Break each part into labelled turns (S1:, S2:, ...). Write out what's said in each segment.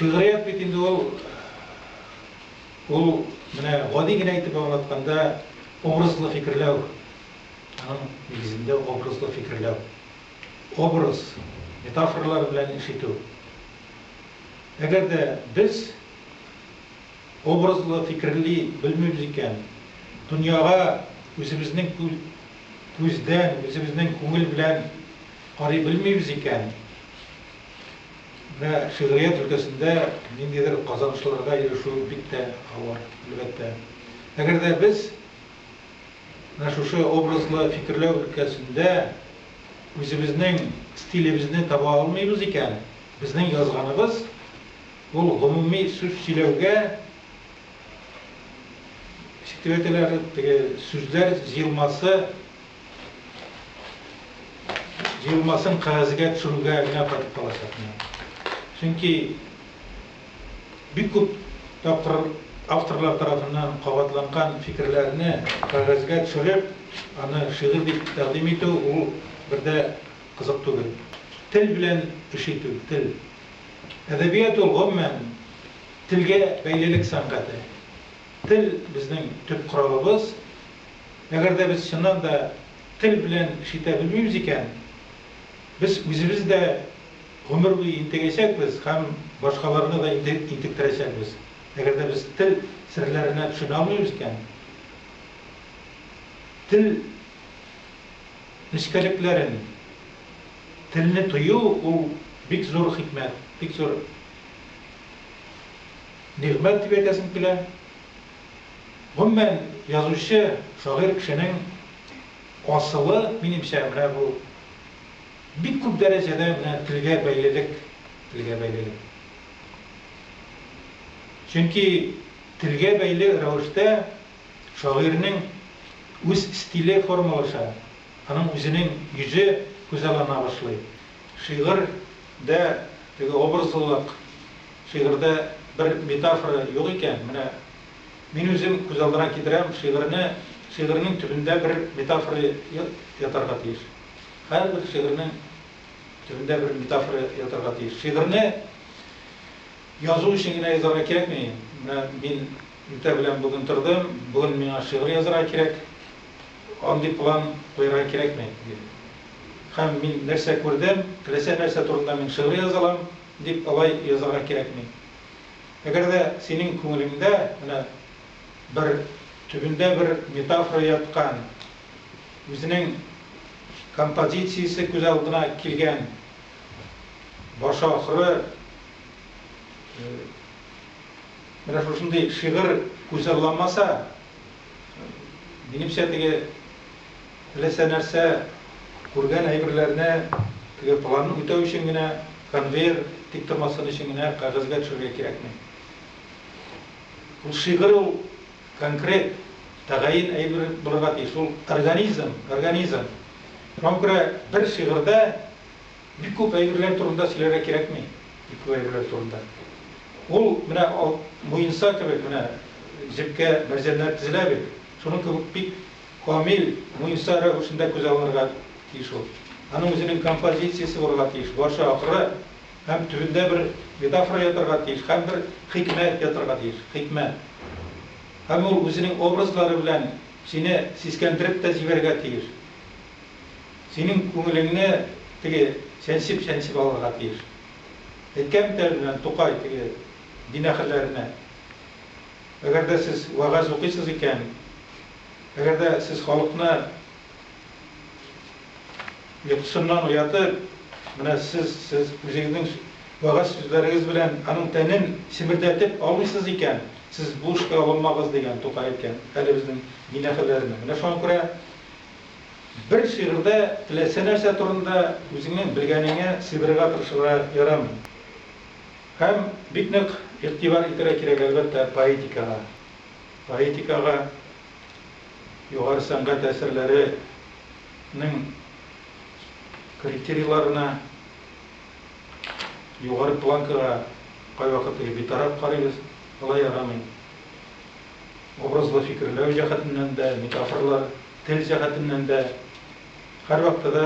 S1: Шигърият бит инде ул ул менә гади генә итеп аңлатканда образлы фикерләү. Аның нигезендә образлы фикерләү. Образ, метафоралар белән эш итү. Әгәр дә без Образлы фикерли белмибез икән, дөньяга үзебезнең күздән, үзебезнең күңел белән карый белмибез икән, менә шигърият өлкәсендә ниндидер казанышларга ирешү бик тә авыр, әлбәттә. Әгәр дә без менә шушы образлы фикерләү өлкәсендә үзебезнең стилебезне таба алмыйбыз икән, безнең язганыбыз Ул гомуми сүз сөйләүгә секретарьлар теге сүзләр җыелмасы җыелмасын кәгазьгә төшерүгә генә кайтып калачак. Чөнки бик күп тапкыр авторлар тарафыннан кабатланган фикерләрне кәгазьгә төшереп, аны шигырь дип тәкъдим итү ул бер дә кызык түгел. Тел белән эш итү, тел. Әдәбият ул, гомумән, телгә бәйлелек сәнгате. Тел, безнең төп коралыбыз. Әгәр дә без чыннан да тел белән эш итә белмибез икән, без үзебез дә гомер буе интегәчәкбез һәм башкаларны да интектерәчәкбез. Әгәр дә без тел серләренә төшенә алмыйбыз икән, тел нечкәлекләрен, Телне тыю ул бик зур хикмәт, бик зур нигъмәт дип әйтәсем килә. Гомумән, язучы, шагыйрь кешенең асылы, минемчә, менә бу бик күп дәрәҗәдә менә телгә бәйлелек, телгә бәйлелек. Чөнки телгә бәйле рәвештә шагыйрьнең үз стиле формалаша. Аның үзенең йөзе күзаллана башлый. Шигырь дә теге образлылык, шигырьдә бер метафора юк икән, менә мин үзем күз алдына китерәм, шигырьне, шигырьнең төбендә бер метафора ятарга тиеш. Һәрбер шигырьнең төбендә бер метафора ятарга тиеш. Шигырьне язу өчен генә язарга кирәкми. Менә мин иртә белән бүген тордым, бүген миңа шигырь язарга кирәк. Андый план куярга кирәкми, дим. Һәм мин нәрсә күрдем, теләсә нәрсә турында мин шигырь яза алам, дип алай язарга кирәкми. Әгәр дә синең күңелеңдә менә бер төбендә бер метафора яткан, үзенең композициясе күз алдына килгән, башы-ахыры менә шушындый шигырь күзалламаса, Минемчә, теге теләсә нәрсә, күргән әйберләрне теге планны үтәү өчен генә, конвейер тиктормасын өчен генә кәгазьгә төшерергә кирәкми. Ул шигырь ул конкрет, тәгаен әйбер булырга тиеш. Ул организм, организм. Шуңа күрә бер шигырьдә Бик күп әйберләр турында сөйләргә кирәкми, бик күп әйберләр турында. Ул менә ал, муенса кебек менә җепкә мәрҗәннәр тезелә бит, шуның кебек бик камил муенса рәвешендә күз алынырга тиеш ул. Аның үзенең композициясе булырга тиеш, башы акры һәм төбендә бер метафора ятарга тиеш һәм бер хикмәт ятарга тиеш, хикмәт. Һәм ул үзенең образлары белән сине сискәндереп тә җибәрергә тиеш. Синең күңелеңне теге чәнчеп-чәнчеп алырга тиеш. Әйткән бит әле белән Тукай теге дин әһелләренә, Әгәр дә сез вәгазь укыйсыз икән, әгәр дә сез халыкны йокысыннан уятып, менә сез, сез үзегезнең вәгазь сүзләрегез белән аның тәнен чемердәтеп алмыйсыз икән, сез бу эшкә алынмагыз, дигән Тукай әйткән әле безнең дин әһелләренә. Менә шуңа күрә Бер шигырьдә теләсә нәрсә турында үзеңнең белгәнеңә сыйдырырга тырышырга ярамый. Һәм бик нык игътибар итәргә кирәк, әлбәттә, поэтикага. Поэтикага, югары сәнгать әсәрләре нең критерийларына, югары планкага кайвакыт битараф карыйбыз, болай ярамый. Образлы фикерләү җәһәтеннән дә, метафоралар, тел җәһәтеннән дә һәрвакытта да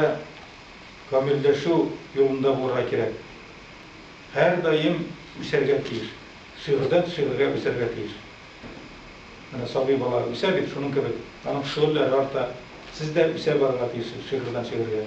S1: камилләшү юлында булырга кирәк. Һәрдаим үсәргә тиеш. Шигырьдән шигырьгә үсәргә тиеш. Менә сабый бала үсә бит, шуның кебек, аның шөгыльләре арта. Сез дә үсә барырга тиешсез шигырьдән шигырьгә.